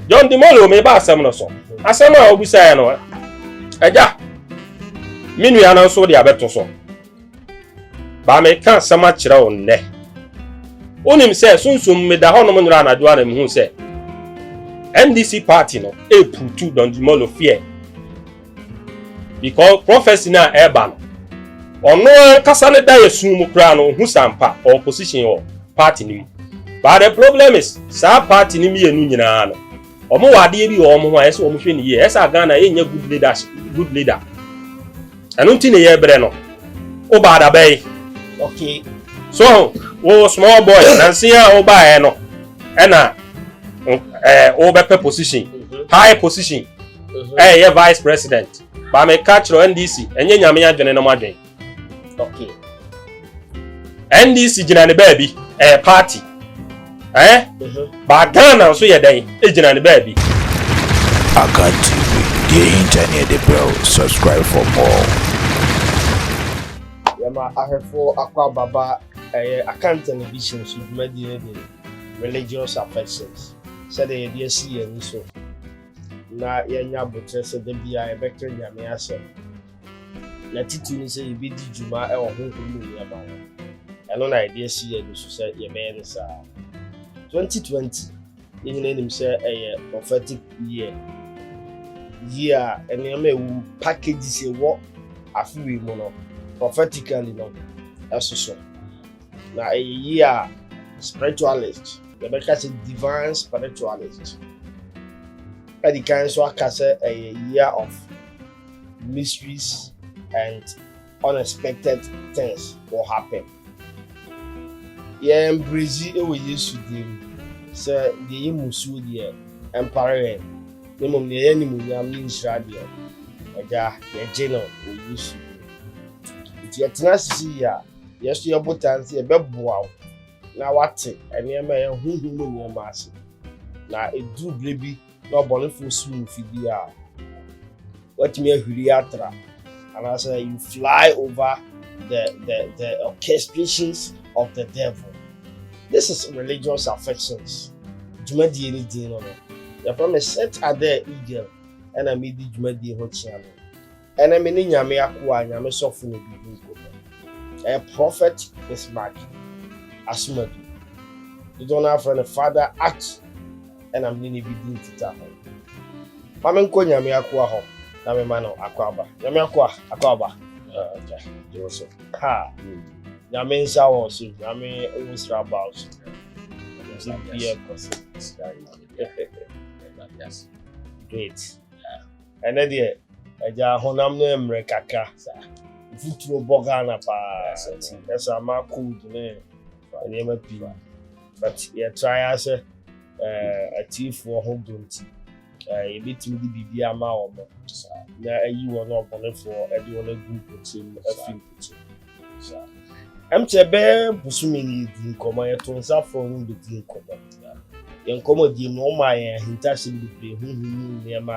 John Dimolo meba asɛm no so. Asɛm a obisaeɛ no, agya, me nua no nso de abɛto so. Baa meka asɛm akyerɛ wo nnɛ. Wonim sɛ sunsum meda hɔnom nnora anadwo a na mehu sɛ NDC party no ɛreputu John Dimolo feɛ. Because prophecy no a ɛreba no, ɔno ankasa ne da yɛ sun mu koraa no, ohu sampa ɔwɔ position wɔ party no mu. But the problem is, saa party no mmienu nyinaa no, wɔn wɔ adeɛ bi wɔ wɔn ho a ɛsɛ wɔn hwɛ ne yie. Ɛsɛ a Ghana yɛnyɛ good leader, good leader. Ɛno nti na yɛbrɛ no. Wo baa da bɛyi. Okay. So, wo small boy, nansi a wo baa yɛ no, ɛna ɛɛ eh, wo bɛpɛ position, mm-hmm. high position. ɛyɛ yɛ vice president ba me ka kyerɛ ndc ɛnyɛ nyame adwene no adwene okay ndc gyina ne baabi ɛyɛ party ɛɛ ba ghana nso yɛ dɛn egyina ne baabi. akan tv deɛ ehinta ne ɛde brɛw subscribe for more. yɛma ahwɛfoɔ akɔ ababa ɛyɛ akanta ne bi hyɛn so dwumadie de religious affections sɛdeɛ yɛde asi yɛn ani so. na yɛanya aboterɛ sɛ da biara yɛbɛka Nyame asɛm, na titiri ne sɛ yɛbɛdi dwuma wɔ honhom mu nneɛma ho. Ɛno na yɛde asi yɛn ani so sɛ yɛbɛyɛ no saa. 2020 yɛn nyinaa nim sɛ ɛyɛ prophetic year year a nneɛma ɛwɔ mu packages ɛwɔ afe wei mu no prophetically no ɛsoso Na ɛyɛ yie a, spiritualist, yɛbɛka sɛ divine spiritualist, adi kan nso aka sɛ ɛyɛ year of mysteries and unexpected things will happen. Yɛn brezi wɔ Yesu dim sɛ deɛ yɛ musuo deɛ ɛmpare yɛn, na mmom deɛ yɛ animuonyam ne nhyira deɛ ɛda yɛgye no wɔ Yesu dim. Nti yɛtena ase si yie a, Yɛn nso yɛn botae nso yɛbɛboa wo na wate nneɛma a ɛyɛ honhom mu nneɛma ase. Na eduru bere bi na ɔbɔnefoɔ sum mfe bi a, watumi ahwiri atra anaasɛ you fly over the the the orchestrations of the devil. This is religious affections. Dwumadie ne din no no yɛfrɛ me set adɛ eagle ɛna medi dwumadie ho kyea no. Ɛnɛ me ne Nyame akoa Nyame sɔfo na biribi nkɔ mu. Ɛyɛ Prɔfɛt Bismarck Asomadu. Dodoɔ no ara frɛ no Father Art ɛna me ne no bi di nkitaho. Ma me nkɔ Nyame akoa hɔ na me ma no akwaaba. Nyame akoa, akwaaba Agya, gye wo so. Ha! Nyame nsa wɔ wo so, Nyame wo nsra ba wo so. Nti bia kɔ so. Great. Ɛnɛ deɛ agya honam no ɛmmerɛ kakra saa. Mfuturo bɔ Ghana paa nti ɛsɛ ama cold ne nneɛma pii but yɛ try ara sɛ eh, atiifoɔ ho dɔ nti eh, yɛbɛtumi de biribi ama wɔn na ayi wɔn ɔbɔnefoɔ de wɔn agu mpɔtam afi mpɔtam. ɛm kyɛ bɛɛ bosome no yɛdi nkɔmmɔ yɛto nsa frɛ ɔmo bɛdi nkɔmmɔ yɛn nkɔmmɔ die mu ɔmo a yɛn ahintasɛm bebree ho hu mu nneɛma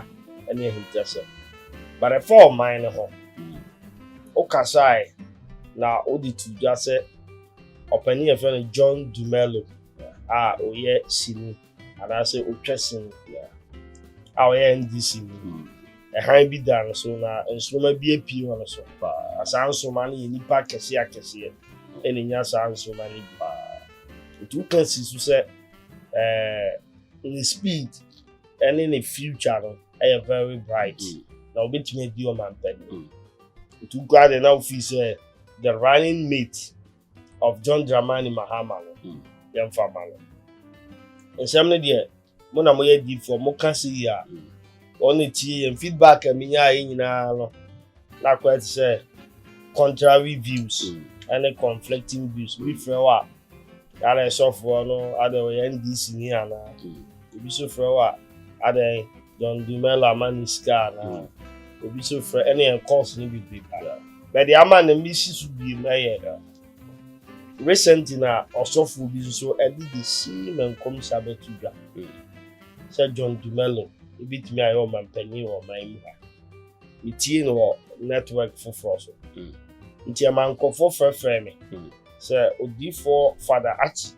ɛne ahintasɛm but ɛfa ɔman no ho wokasae na wode to dwa sɛ ɔpani yɛfrɛ no John Dumelo a ɔyɛ sini anaasɛ otwa sin biara a ɔyɛ ndc mu hmm. ɛhan bi da no so na nsoroma bi apue wɔ no so na saa nsoroma no yɛ nipa akɛseɛ akɛseɛ ɛna nya saa nsoroma no bi nti woka si so sɛ ɛɛ ne speed ɛne ne future no ɛyɛ very bright hmm. na obetumi adi ɔmampɛni hmm. nti wokura de na wofi sɛ the running mate. of john dramani mahama no hmm. yɛmfa ma no nsɛm no deɛ mo na moyɛ difoɔ moka se yi a hmm. wɔn ne tie yɛn feedback a menya yɛ nyinaa no na akɔyɛ te sɛ contrary views hmm. ɛne conflicting views bi frɛ wɔ a yɛada ɛsɔfoɔ no ada ɔyɛ ndc ni anaa ebi nso frɛ wɔ a ada John Dumelo ama ne sika anaa mm. obi so frɛ ɛne yɛn course no bi bi paa bɛde ama na mi si so bi mu ɛyɛ recently na ɔsɔfo bi nso ɛde de si ma nkɔmhyɛ abɛto dwa mm. sɛ John Dumelo ebi tumi ayɛ ɔmanpanyin wɔ ɔman mu ha metie no wɔ network foforɔ so mm. nti ɛma nkurɔfoɔ frɛfrɛ me sɛ odiifoɔ fada akyi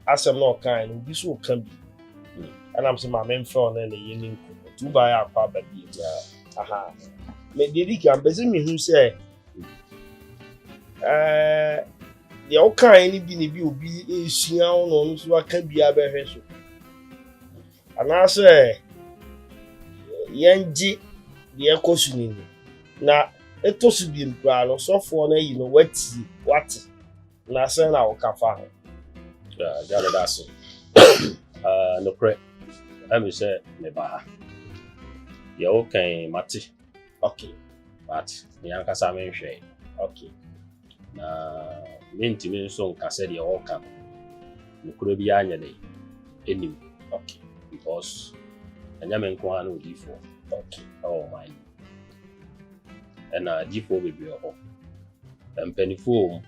asɛm na ɔkae no obi so ɔka bi ɛna m sɛ ma memfrɛ wo ne ne yɛ ne nku nti wobaeɛ akɔ aba bi aha deɛ di kan bɛsɛ mehu sɛ deɛ wokae no bi ne bi obi ɛsua wo na ɔno nso aka bi abɛhwɛ so anaasɛ yɛngye deɛ ɛkɔ so no ni na ɛtɔ so biem koraa no sɔfoɔ no ayi no watie wate Na sɛn na woka fa ho? Agya no da so. Nokorɛ, ɛmi sɛ meba ha. Deɛ wokan mate. Okay. But me ankasa menhwɛe. Okay. Na mentumi nso nka sɛ deɛ wɔka no nokorɛ biara nyɛ dɛ ɛnim. Okay. Because ɛnyɛ me nko ara na odiifoɔ. Okay. Ɛwɔ ɔman mu. Ɛna agyifoɔ bebree wɔ hɔ. Mpanimfoɔ wɔ mu,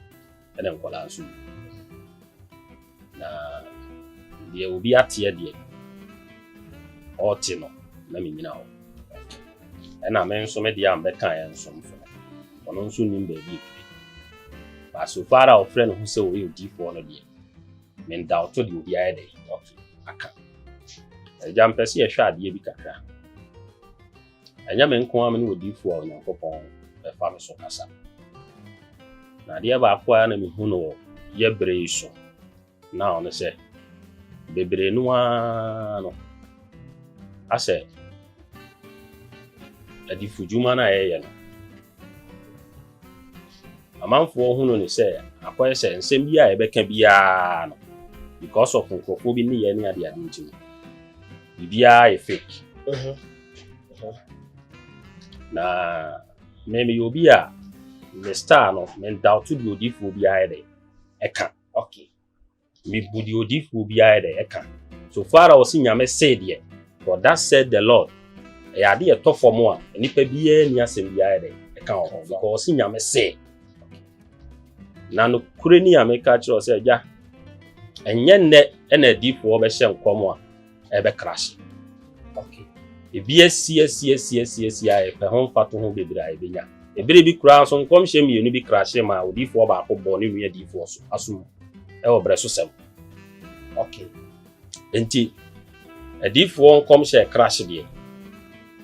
ɛna nkwadaa nso wɔ mu. Na deɛ obi ateɛ deɛ, ɔrete no na menyina hɔ. Ɛna me nso me deɛ a mbɛkaeɛ nso mfo no. Ɔno nso nim baabi ɛfiri. But so far a ɔfrɛ ne ho sɛ ɔyɛ odiyifoɔ no deɛ, Menda ɔto de obi ayɛ dɛ ɔto aka. Agya mpɛ sɛ yɛhwɛ adeɛ bi kakra. Ɛnyɛ me nko ara me ne odiifoɔ a Onyankopɔn bɛfa me so kasa. Na adeɛ baako a na mehu no wɔ yɛ berɛ yi so na ɔno sɛ bebree no ara no asɛ adifudwuma no a yɛyɛ no Amanfoɔ hunu no sɛ akɔyɛ sɛ nsɛm bi a yɛbɛka biara no, because of nkurɔfoɔ bi nneyɛɛ ne adeade nti no, biribiara yɛ fake. Mhm. Mhm. Na me meyɛ obi a me star no, mendawto deɛ odiyifoɔ biara yɛ dɛ ɛka. Okay. Mebu deɛ odiyifoɔ bi ayɛ dɛ ɛka. So far a ɔse Nyame see deɛ, for thus said the Lord, ɛyɛ ade a ɛtɔ fam a nnipa biara nni asɛm biara ayɛ dɛ ɛka wɔ ho because ɔse Nyame see. Na nokorɛ ni a meka akyerɛ wo sɛ, Agya, ɛnyɛ nnɛ na adiyifoɔ bɛhyɛ nkɔm a ɛbɛkra ase okay ebi asi asi asi asi asi a yɛpɛ ho mfato ho bebree a yɛbɛnya ebere bi koraa nso nkɔmhyɛ mmienu bi kra hyɛ ma odiifoɔ baako bɔɔ ne nua diifoɔ so asom ɛwɔ berɛ so sɛm okay nti adiifoɔ nkɔmhyɛ kra hyɛ deɛ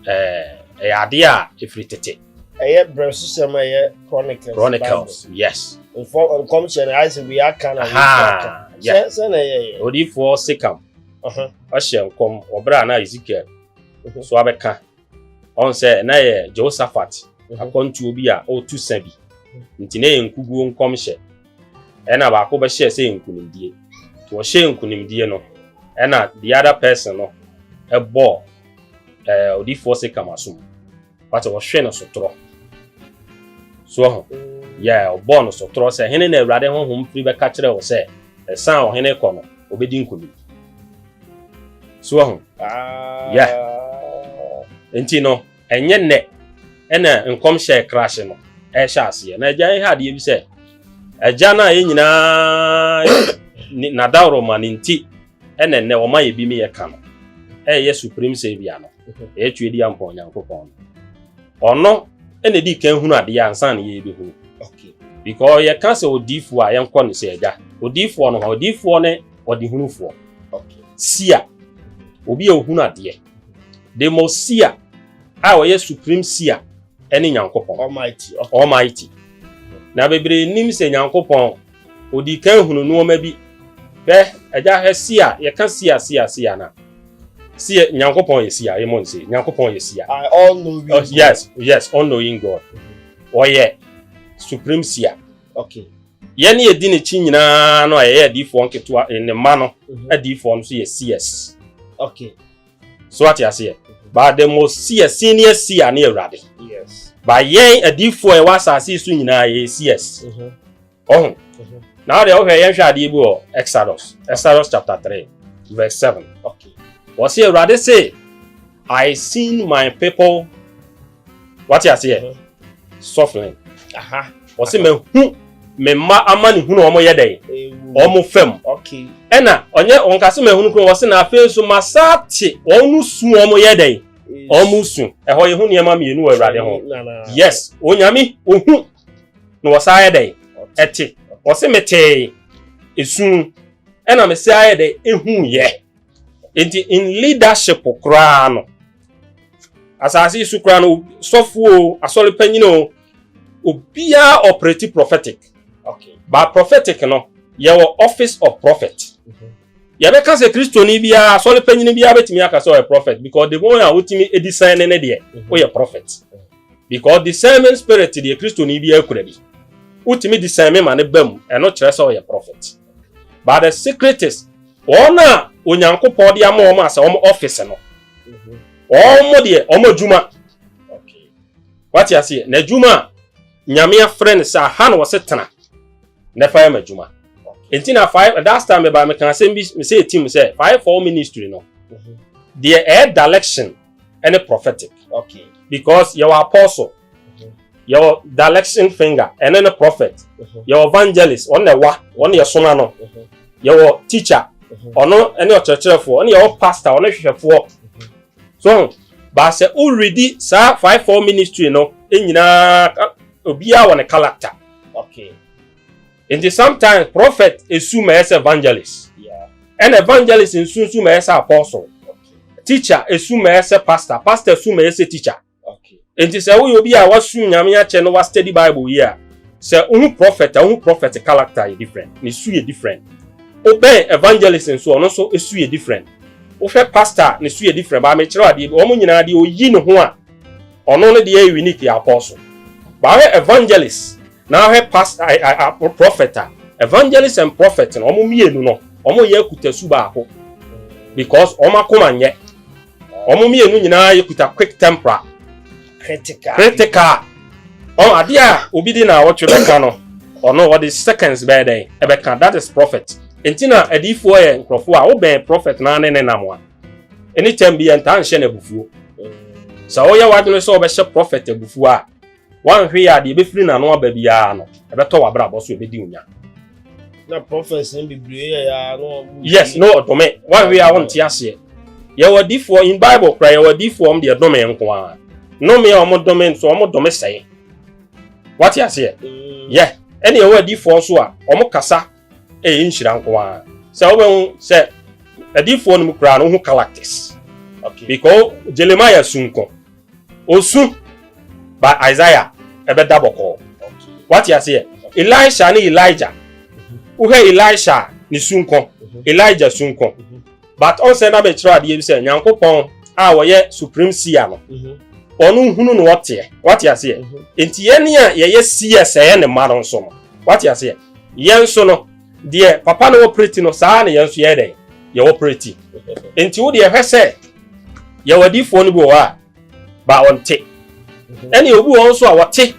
ɛɛ ɛyɛ adeɛ a ɛfiri tete ɛyɛ berɛ so sɛm ɛyɛ chronicles chronicles yes nkɔmhyɛ no ayɛ sɛ wei aka na wei aka sɛ na ɛyɛ odiifoɔ sekam ɔhyɛ nkɔm wɔ bere a na Ezekiel mhm. so abɛka ɔn sɛ na yɛ Jehoshaphat mhm. akwantuo bi a ɔretu sa bi mhm. nti na yɛ nkuguo nkɔmhyɛ ɛna baako bɛhyɛɛ sɛ nkunimdie nti wɔhyɛɛ nkunimdie no ɛna the other person no ɛbɔɔ ɛɛ odiifoɔ Sekam asom wate wɔhwe no sotorɔ soɔ ho yɛ ɔbɔɔ no sotorɔ sɛ hene na awurade honhom firi bɛka kyerɛ wo sɛ ɛsan a ɔhene kɔ no ɔbɛdi nkonim soɔ ho yɛ nti no ɛnyɛ nnɛ ɛna nkɔmhyɛ krahye no ɛhyɛ aseɛ na agya ɛhɛ adeɛ bi sɛ agya no a yɛ nyinaa nadaworo ma ne nti ɛna ɛnɛ wɔn ayɛ bi mi yɛ ka no ɛyɛ supreme saviour no ɛyɛ twe di ampɔ onyankopɔn no ɔno ɛna edi kan hunu adeɛ ansa na yɛ bi hunu because yɛ ka sɛ odiifoɔ a yɛn kɔ ne sɛ ɛgya odiifoɔ no hɔ odiifoɔ ne ɔde hunufoɔ sia obi a ohunu adeɛ the most sia a ɔyɛ supreme sia ɛne nyankopɔn almighty almighty na bebree nim sɛ nyankopɔn Odii kan hunu nnoɔma bi. Hwɛ, agya, hwɛ, sia, yɛka sia, sia, sia na. Sia, Nyankopɔn yɛ sia, yɛ mɔn se, Nyankopɔn yɛ sia. I all knowing oh, God. Yes, yes, all knowing God. Ɔyɛ supreme sia. Okay. Yɛn ne yɛdi n'akyi nyinaa no a yɛyɛ adiifoɔ nketewa, ne mma no, mhm. adiifoɔ no so yɛ CS. Okay. so ate aseɛ but the most seer senior seer ne awurade ba yɛn adiifoɔ a ɛwɔ asase so nyinaa yɛ seers mhm. ɔho mhm. na wode wohwɛ yɛnhwɛ adeɛ bi wɔ exodus exodus chapter 3 verse 7 wɔ se awurade se i seen my people wate aseɛ mhm. sɔflin aha ɔse mahu me mma ama ne hunu ɔmo yɛ dɛn ɔmo fam ɛna ɔnyɛ ɔnka se mahunu kuro ɔse na afei nso masaa te ɔmo su ɔmo yɛ dɛn ɔmo su ɛhɔ yɛ ho nneɛma mmienu wɔ awurade ho yes onyame ohu na ɔsaa yɛ dɛn ɛte ɔse metee esu ɛna mesaa yɛ dɛn ehu yɛ. nti in leadership koraa no asase so koraa no sɔfo o asɔre panyin o obiara operate prophetic okay ba prophetic no yɛwɔ office of prophet mm -hmm. yɛbɛka sɛ kristoni biara asɔre panyin biara bɛtumi aka sɛ ɔyɛ prophet because the one a wotumi discern ne deɛ mhm. woyɛ prophet mhm. because discernment spirit deɛ kristoni biara kura bi wotumi discern ma ne ba mu ɛno kyerɛ sɛ ɔyɛ prophet but the secret is wɔn a onyankopɔn de ama wɔn asɛ wɔn office no wɔn mo deɛ wɔn adwuma wate aseɛ na adwuma a nyame afrɛ no sɛ aha na wɔse tena na ɛfa yɛ ma adwuma nti na five that time meba meka asɛm bi mesɛ ɛtim sɛ five four ministry no deɛ ɛyɛ direction ɛne prophetic okay because yɛwɔ apostle mhm. yɛwɔ direction finger ɛne ne prophet mhm. yɛwɔ evangelist wɔn na ɛwa wɔn na yɛsoma no mhm. yɛwɔ teacher ɔno ɛne ɔkyerɛkyerɛfoɔ ɛne yɛwɔ pastor ɔne hwehwɛfoɔ so baasɛ woredi saa five four ministry no nyinaa obiara wɔ ne character okay nti sometimes prophet esu ma ɛsɛ evangelist ɛna evangelist nsu nsu ma ɛsɛ apostle teacher esu ma ɛsɛ pastor pastor esu ma ɛsɛ teacher nti sɛ woyɛ obi a wasu nyame akyɛ no wa study bible yi a sɛ wohu prophet a wohu prophet character yɛ different ne su yɛ different wobɛn evangelist nso ɔno nso esu yɛ different wohwɛ pastor ne su yɛ different baa mekyerɛ adeɛ bi wɔn nyinaa deɛ oyi ne ho a ɔno ne deɛ yɛ unique yɛ apostle baa hwɛ evangelist Na hwɛ past a a a prophet a evangelist and prophet no wɔn mmienu no wɔn yɛ akutasu baako because wɔn akoma nyɛ wɔn mmienu nyinaa yɛ kuta quick temporal critical critical wɔn adeɛ a obi de na awɔtwe bɛka no ɔno ɔde seconds bɛyɛ dɛn ɛbɛka that is prophet nti na adiifoɔ yɛ nkurɔfoɔ a wobɛn prophet naa ne ne nam a anytime bi yɛn taa nhyɛ no abufuo sɛ wɔyɛ wadwene sɛ wɔbɛhyɛ prophet abufuo a Woanhwɛ yie a, deɛ ɛbɛfiri n'ano aba biara no, ɛbɛtɔ w'abrabɔ so, ɛbɛdi wo nya. Na prophets no bebree yɛ ya na wɔn. Yes, na ɔdome. Woanhwɛ yie a, wonte aseɛ. Yɛwɔ adiifoɔ in Bible koraa, yɛwɔ adiifoɔ wɔn deɛ dome nko ara. Nnome a wɔn dome nso, wɔn dome sɛe. Wate aseɛ? Mm. Yɛ. Ɛna yɛwɔ adiifoɔ nso a, wɔn kasa ɛyɛ nhyira nko ara sɛ wobɛhu sɛ adiifoɔ no mu koraa no wohu characters okay. because jeremiah su nko ɔsu ba isaiah ɛbɛda bɔkɔɔ okay. wate aseɛ okay. elisha ne elijah wohwɛ mhm. elisha ne su nko mhm. elijah su nko mhm. but ɔnsɛ na mekyerɛ adeɛ bi sɛ nyankopɔn a wɔyɛ supreme seer no ɔno hunu na ɔteɛ wate aseɛ nti yɛne a yɛyɛ seer sɛɛ ne mma no nso no wate aseɛ Yɛn nso no, deɛ papa no wɔ preti no, saa ara na yɛn nso yɛyɛ dɛn? Yɛwɔ preti. Enti wo deɛ, hwɛ sɛ yɛwɔ adiyifoɔ no bi wɔ hɔ a, baa wɔnte, ɛne obi wɔ hɔ nso a wɔte,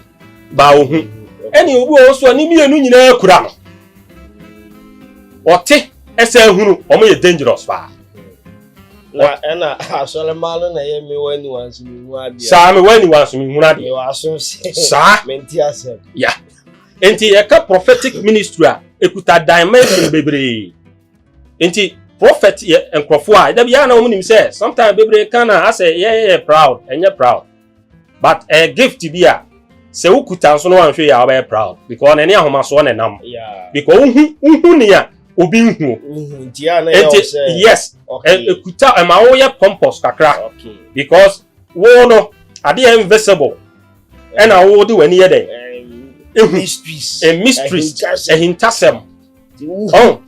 baa wɔhu, ɛne obi wɔ hɔ nso a ne mmienu nyinaa kura no. Wɔte ɛsɛ ahunu, wɔn yɛ dangerous paa. Na ɛna asɔremma no na ɛyɛ mewɔ aniwa nso mehunu adeɛ. Saa mewɔ aniwa nso mehunu adeɛ. Mewɔ aso nse. Saa. Mente asɛm. Ya. Nti yɛka prophetic ministry a ekuta dimension bebree. Nti prophet yɛ nkurɔfo a ɛda bi yɛa na wɔn nim sɛ sometimes bebree kan a asɛ yɛyɛ proud ɛnyɛ proud but ɛyɛ gift bi a sɛ wokuta nso no anhwɛ yɛ a wɔbɛyɛ proud because n'ani ahomasoɔ na ɛnam because wohu wohu nea obi nhu nti yes ekuta ɛma woyɛ pompous kakra because wo no adeɛ invisible. ɛna wode w'ani yɛ dɛn ehu mysteries ahintasɛm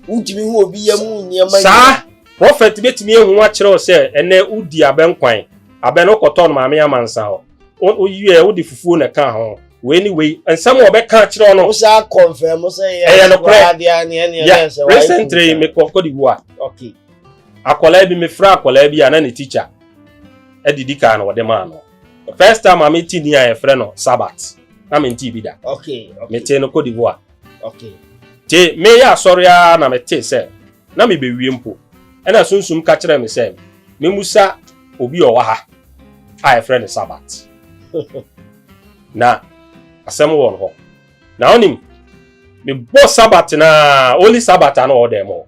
wontumi hu obi yɛ mu nneɛma saa prɔfɛt bɛtumi ehu akyerɛw sɛ ɛnɛ wodi abɛn kwan abɛn wokɔtɔ no maame amansa hɔ woyɛ wode fufuo na ɛka ho wei ne wei nsɛm a ɔbɛka akyerɛw no wosaa kɔnfɛm sɛ ɛyɛ nokorɛ recently mekɔ kɔde wu a akwadaa bi mefrɛ akwadaa bi a na ne tikya adidi kaa na ɔde maa no The first time a me ti ni a yɛfrɛ no Sabbath, na me nti bi da. Okay, okay. Me te no Cote d'Ivoire. Okay. Te me yɛ asɔre a na me te sɛ, na me bewie mpo. Ɛna sunsum ka kyerɛ me sɛ, me musa obi a ɔwɔ ha a yɛfrɛ no Sabbath. na asɛm wɔ no hɔ. Na onim, me bɔ Sabbath na only Sabbath a na ɔwɔ dɛm hɔ.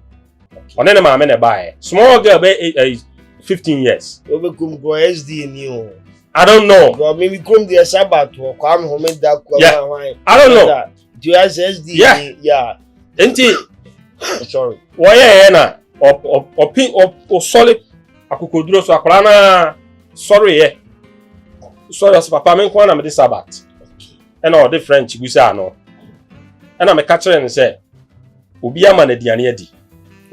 ɔne ne maame na ɛbaeɛ small girl bɛ eh, eh, fifteen years. o bɛ kum kura sda ni o. I don't know. Bro, maybe come the Sabbath or come home and that. Yeah, I don't know. Do you have SDA? Yeah, yeah. Enti, sorry. Why yeah na? Or or or pin or or solid. Akukoduro so akora na sorry yeah. Sorry, as papa me nkwa na me de Sabbath. Ɛna ɔde French gusa ano. Ɛna me ka kyerɛ no sɛ Obi ama no aduane adi.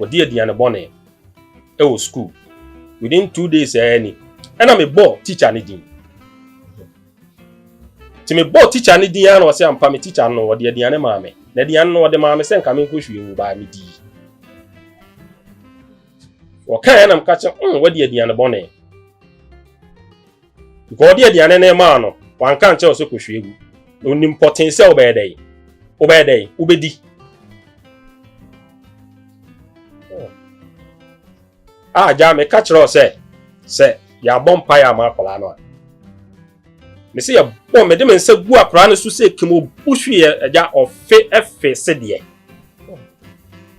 Ɔdi aduane bɔne wɔ sukuu. Within two days ɛɛ ni. Ɛna mebɔ teacher ne din. Nti mebɔ teacher ne din ara na ɔsɛ ampa me teacher no ɔde aduane maa me. Na aduane no ɔde maa me sɛ nka menkɔhwie ngu baa medii. Wɔkaeɛ na meka kyɛ mm, wadi aduane bɔne. Nka ɔde aduane no maa no, wanka ankyerɛ wo sɛ kɔhwie gu. Ɔnim pɔtee sɛ wobɛyɛ dɛn? Wobɛyɛ dɛn? Wobɛdi. A ah, gyaa meka kyerɛ wo sɛ sɛ yɛabɔ mpaeɛ ama akwadaa no a me sɛ yɛbɔ mede me nsa gu akwadaa no so sɛ kim ɔbu hweɛ agya ɔfe ɛfe sedeɛ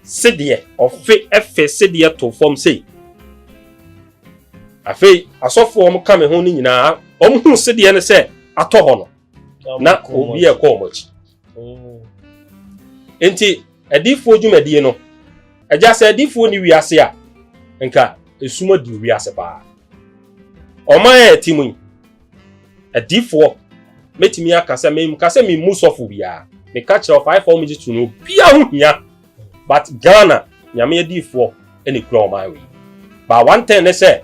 sedeɛ ɔfe ɛfe sedeɛ to fam sei Afei asɔfo a wɔka me ho no nyinaa, wɔhuu sedeɛ no sɛ atɔ hɔ no, na obi a ɛkɔ wɔn akyi. Mm. Enti adiifoɔ dwumadie no, agya sɛ adiifoɔ ni wiase a, nka esum adi wiase paa. Ɔman a ɛte mu yi, adiifoɔ mɛtumi aka sɛ menka sɛ memmu sɔfo biara. Meka kyerɛ ɔfaefa wɔn gye to no, obiara ho hia but Ghana nyame adiifoɔ na ekura wɔn awe but one thing ne sɛ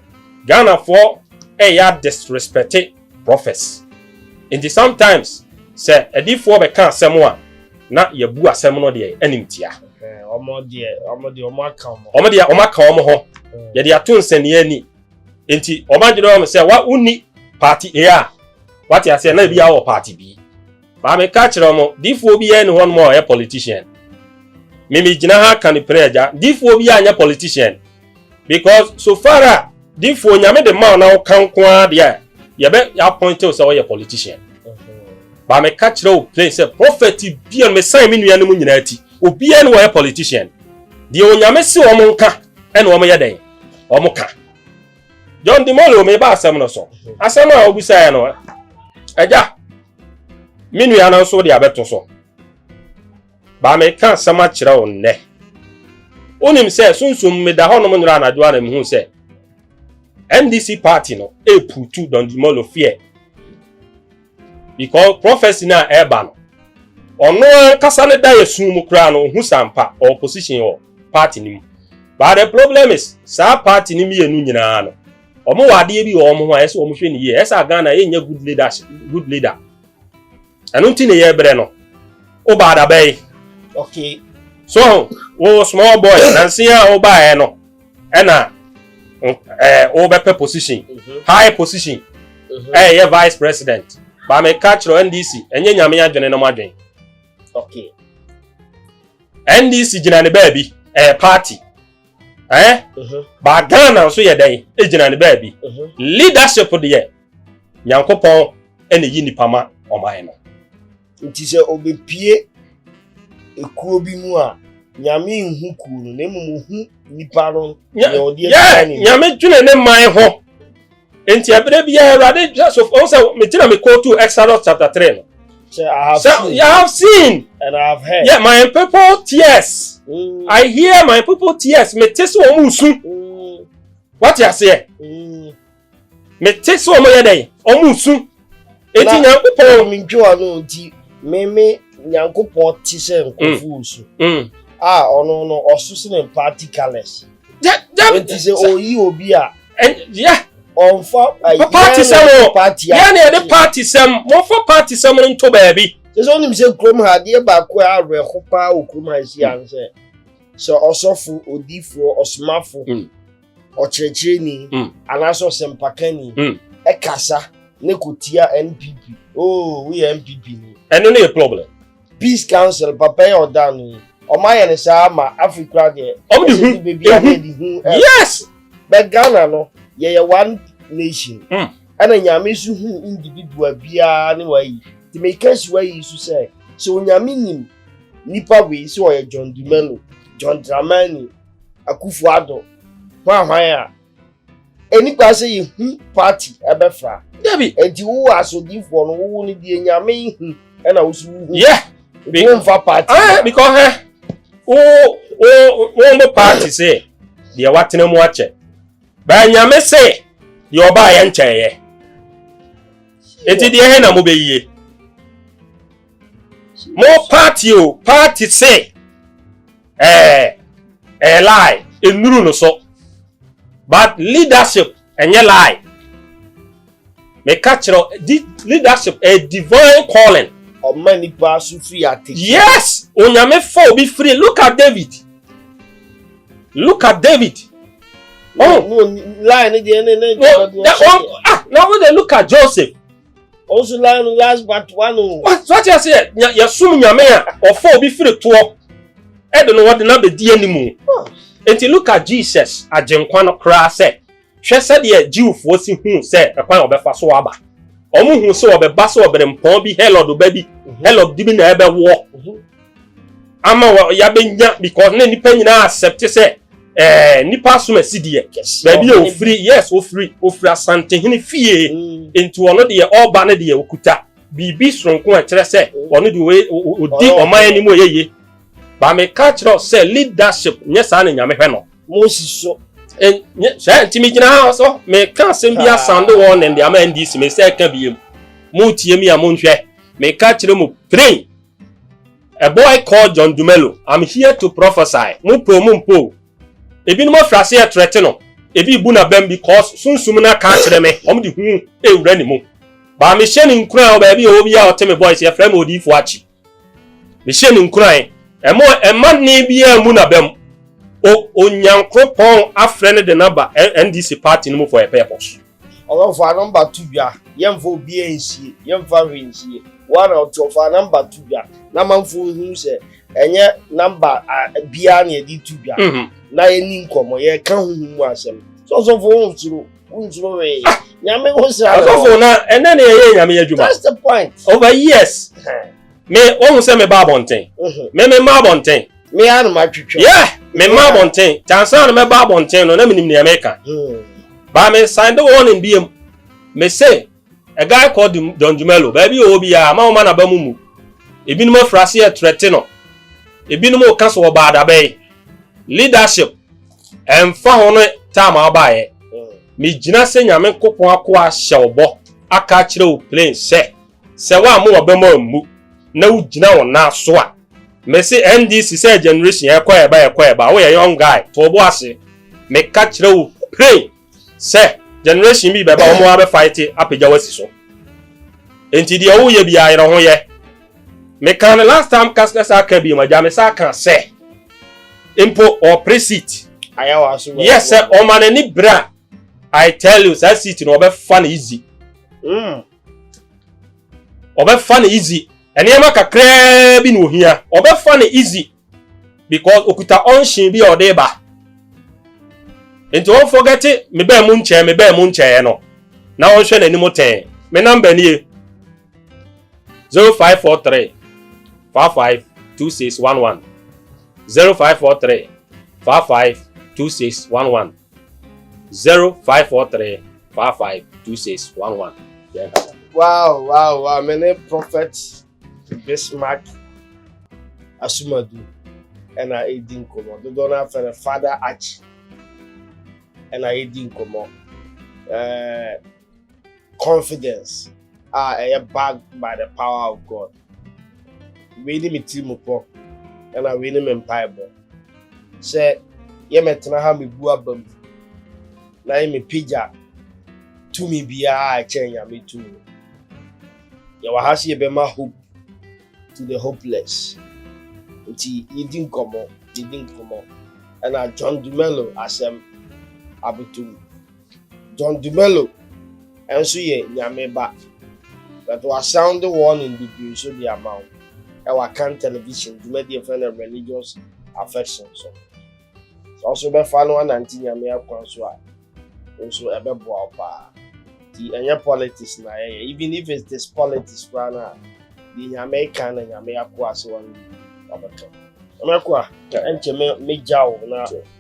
Ghanafoɔ ɛyɛ disrespect prophets nti sometimes sɛ adiifoɔ bɛka asɛm a na yɛbu asɛm no deɛ anim tia wɔn deɛ wɔn deɛ wɔn aka wɔn wɔn deɛ wɔn aka wɔn ho yɛde ato nsɛnniɛ ani nti wɔn adwene wɔn sɛ wa wonni party A a wate aseɛ na ebi awɔ party B. Maame ka kyerɛ wɔn, difoɔ biara ni hɔnom a ɔyɛ politician. Me me gyina ha ka ne pere agya, difoɔ biara nyɛ politician. Because so far a difoɔ nyame de ma na woka nko ara deɛ a yɛbɛ appointew sɛ ɔyɛ politician. Ba me ka kyerɛ wo plain sɛ prophet biara me san me nua no mu nyinaa ti. Obiara ni ɔyɛ politician. Deɛ onyame se wɔn nka ɛna wɔn yɛ dɛn? Wɔn ka. john dimolo meba asɛm no so asɛm a wobisaeɛ no agya me nua no nso de abɛto so baa meka asɛm akyerɛ wo nnɛ wonim sɛ sunsum meda hɔnom nnora anadwo a na mehu sɛ ndc party no ɛputu don dimolo feɛ because prophecy no a ɛreba no ɔno ankasa ne da yɛ sun mu koraa no ohu sampa ɔwɔ position wɔ party no mu but the problem is saa party no mmienu nyinaa no wɔn wɔ adeɛ bi wɔ wɔn ho a ɛsɛ wɔn hwɛ ne yie ɛsɛ a Ghana yɛnyɛ good leader good leader ɛno nti na yɛbrɛ no woba adabɛyi okay so wo small boy nansi a wobaeɛ no ɛna ɛɛ wobɛpɛ position mhm. high position mhm. ɛyɛ yɛ vice president baame kakyerɛ ndc ɛnyɛ nyame adwene nom adwene okay. ndc gyina ne baabi ɛyɛ party ɛɛ eh? mhm. ba ghana nso yɛ dɛn egyina ne baabi leadership deɛ nyankopɔn ɛna yi nipa ma ɔman no. Nti sɛ obepue ekuo bi mu a, Nyame nhu kuo no, na mmom ohu nipa no na ɔde atua ne Nyame dwene ne man ho. Nti ɛberɛ biara Awurade hwɛ so, ɔhu sɛ meti na me kootu Exodus chapter 3 no. Sɛ I have seen. I have seen. And I have heard. Yeah, my people tears. Mm. I hear my people tears. Me te sɛ wɔn su. Mm. Wate aseɛ? Mm. Mete sɛ wɔn yɛ dɛn? Wɔn resu. Eti Nyankopɔn. Na mentwe ano nti, meme Nyankopɔn te sɛ nkurɔfo resu. Mm, mm. A ɔno no, ɔso sene practicalers. Gya, gya. Enti sɛ ɔyi obi a. Gya. Ɔmfa ayɛ. Paati sɛm o. Paati a. Yɛn na yɛde paati sɛm. Mɔmfa paati sɛm no nto baabi. Sɛ sɛ ɔnim sɛ kurom ha adeɛ baako a awerɛho paa wɔ kurom ha esi ano sɛ sɛ ɔsɔfo, odiifoɔ, ɔsomafo. Mm. ɔkyerɛkyerɛni mm. anaasɛ ɔsɛmpakani mm. ɛkasa ne kotia npp oh woyɛ npp ni. ɛno ne yɛ problem. peace council papa yɛ ɔda no yi ɔmo ayɛ ne saa ma afrika deɛ ɔmo de hu beebi a yɛ de hu ɛf yes bɛ ghana no yɛyɛ one nation mm. ɛna nyame so hu individual biara ne wayi tèmi kɛse wayi so sɛ sɛ onyame nim nipa wei sɛ ɔyɛ john dumelo john dramani. Akufo Addo hwanhwan a, ɛni kwan sɛ yɛhu party ɛbɛfra. Dabi. Enti wo wɔ asodifoɔ no, wo wo no deɛ Nyame hu ɛna wo so wo hu. Yeah. Wo mfa party. Ah, because hɛ, wo, wo, wo mo party se, deɛ watena mu akyɛ. Baa Nyame se, deɛ ɔbaa yɛ nkyɛ yɛ. Enti deɛ hɛ na mo bɛyie. Mo party o, party se, ɛɛ ɛyɛ lie nnuru no so but leadership ɛnyɛ lie meka kyerɛ di leadership a divine calling. ɔma nipa so firi ate. yes onyame fa obi firi look at david look at david. ɔn oh. line ne deɛ ne ne. ɔn ah na wo de look at joseph. ɔnso lan no last but one o. wate ase yɛ yɛsom nyame a ɔfa obi firi toɔ ɛde no wɔde no abɛdi anim nti look at jesus agyenkwa no koraa sɛ hwɛ sɛdeɛ jewfoɔ si hu sɛ ɛkwan ɔbɛfa so aba ɔmo hu sɛ ɔbɛba sɛ ɔberempɔn bi herod ba bi herod bi na ɛbɛwoɔ ama yɛabɛnya because na nipa nyinaa accept sɛ ɛɛ nipa asom asi deɛ baabi a ofiri yes ofiri ofiri asantehene fie mm. nti ɔno deɛ ɔba no deɛ okuta biribi soronko a ɛkyerɛ sɛ mm. ɔno deɛ odi ɔman anim ɔyɛ yie baame ka kyerɛ sɛ leadership nyɛ saa na nyame hwɛ no. mo si so. sɛ ntumi gyina ha so meka asɛm bi asande wɔn ne ndeama ndc me sɛ ɛka biem mo tie mi a mo nhwɛ meka kyerɛ mu pray. A boy called John Dumelo, I'm here to prophesy, mo po mo mpo o. Ebinom afiri aseɛ ɛtrɛte no, ebi rebu n'abam because sunsum no aka akyerɛ me, wɔn de hu rewura ne mu. Baa mehyɛ ne nkuran wɔ baabi a ɔwɔ biara ɔte me voice, yɛfrɛ me Odiyifoɔ Akyi. Mehyɛ ne nkuran, ɛmo ɛma nne biara mmu n'abam. O, Onyankopɔn afrɛ no de no aba NDC party no mu for a purpose. Ɔno fa number to dwa yɛnfa obiaa nsie yɛnfa hwee nsie woa na woteɔ fa number to dwa na amanfoɔ nhunu sɛ ɛnyɛ number biaa na yɛde to dwa na yɛni nkɔmɔ yɛka honhom mu asɛm sɛ ɔsɔfo wonsuro wonsuro hwee nyame ho sra ɔsɔfo na ɛnɛ ne yɛyɛ nyame adwuma that's the point over oh, years Me wɔn sɛ me ba abɔnten. Mhm. Me me mma abɔnten. Me ara na ma twitwa. Yeah, me mma Yeah. abɔnten. Tansan na me ba abɔnten no na me nim nea me ka. Hmm. Ba me sign the warning bi mu. Me say a guy called Dum- Don Jumelo. Baabi ɔwɔ bi a ma wɔn ma na ba mu mu. Ebinom afura ase yɛ trɛte no. Ebinom ɔka so ɔbaa dabɛn. Leadership ɛnfa ho no taa ma ɔbaayɛ. Hmm. Me gyina sɛ nyame nkopɔn akoa ahyɛ ɔbɔ aka akyerɛ wo plain sɛ. Sɛ woammo w'abam ammu na wugyina wo nan so a, mese NDC sɛ generation ɛkɔ ɛba ɛkɔ ɛba, woyɛ young guy, to wo bo ase. Meka kyerɛ wo plain sɛ generation bi bɛba wɔn abɛ fight apagya wo asi so. Enti deɛ woyɛ biara yerɛ ho yɛ. Meka no last time kas kasa aka bi ma gya me sa aka sɛ mpo ɔpere seat. Yɛ sɛ ɔma n'ani bere a I tell you saa seat no ɔbɛfa no easy. Mm. ɔbɛfa no easy nneɛma kakraa bi na ohia ɔbɛfa no easy because okuta ɔnhye bi a ɔde ba nti wɔn fɔgɛte me bɛn mu nkyɛn me bɛn mu nkyɛn no na wɔnhwɛ n'anim tɛn me namba nie zero five four three five five two six one one zero five four three five five two six one one. Zero five four three five five two six one one yɛn kasa. wow wow wow me ne prophet bismark asumadu ɛna edi nkɔmɔ dodoɔ no afɛ no father achi ɛna edi nkɔmɔ ɛɛ. confidence a ɛyɛ backed by the power of God. Wei ne me tiri mu pɔ, ɛna wei ne me mpaebɔ. Sɛ yɛmɛtena ha mebu aba mu na yɛmɛpagya tumi biara a ɛkyɛn Nyame tumi no. Yɛwɔ ha sɛ yɛbɛma hope to the hopeless. Nti yɛdi nkɔmmɔ, yɛdi nkɔmmɔ. Ɛna John Dumelo asɛm abotom. John Dumelo nso yɛ Nyame ba, but wasan de warning bebree nso de ama wo ɛwɔ Akan Television dwumadie yɛfrɛ no Religious Affection so. Sɛ wo nso wobɛfa no anante Nyame akwan so a, wo nso ɛbɛboa wo paa. Nti ɛnyɛ politics na yɛyɛ, even if it is politics koraa no a, deɛ Nyame ka na Nyame akoa se wɔn wabɛka. Ɔmɛkoa, ɛnkyɛ mɛgya wo na.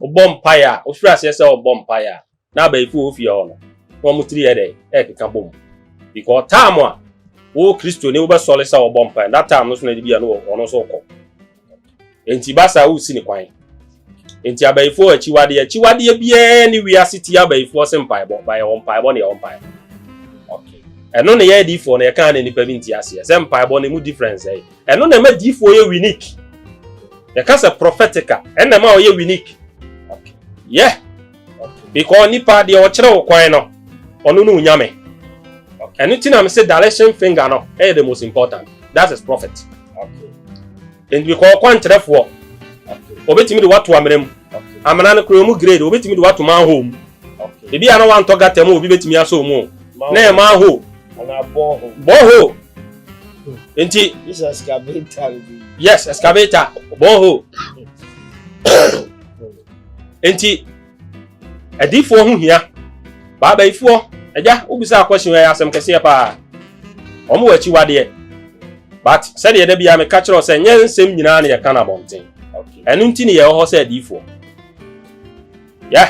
Wobɔ mpaeɛ a, wofiri aseɛ sɛ ɔbɔ mpaeɛ a, na abayifo wɔ wo fie hɔ no, na wɔn tiri yɛ dɛn? Ɛrekeka bom. Because time a wo Kristoni wobɛsɔre sɛ ɔbɔ mpaeɛ, that time no so na ebi a no ɔno nso kɔ. Enti ba saa wosi ne kwan. Enti abayifo akyiwadeɛ, akyiwadeɛ biara ne wiase tie abayifoɔ se mpaebɔ, ba yɛwɔ mpaebɔ ne yɛwɔ mpaebɔ. Okay. Ɛno ne yɛ adiifoɔ no yɛkaa ne nipa bi nti aseɛ sɛ mpaebɔ no mu difference ɛyɛ. Ɛno na ɛma diifoɔ yɛ winik. Yɛka sɛ prophetic a, ɛno na ɛma ɔyɛ winik. Yɛ. Because nipa deɛ ɔkyerɛ wo kwan no, ɔno ne onyame. Ɛno ti na me se direction finger no ɛyɛ the most important. That is prophet. Nti because ɔkwankyerɛfoɔ, ɔbɛtumi de wato amena mu. Amena no kora ɔmu grade, ɔbɛtumi de wato manhole mu. Ebi a na wantɔ gata mu, obi bɛtumi asɔ mu o. Na ɛyɛ manhole. Bɔhole. nti yes excavator borehole nti adiifoɔ ho hia baabaifoɔ agya wobisa akɔhye yɛ asɛm kɛseɛ paa wɔn wɔ akyiwadeɛ but sɛdeɛ da biara meka kyerɛ sɛ nyɛ nsɛm nyinaa na yɛka no abɔnten ɛno nti ne yɛwɔ hɔ sɛ adiifoɔ yɛ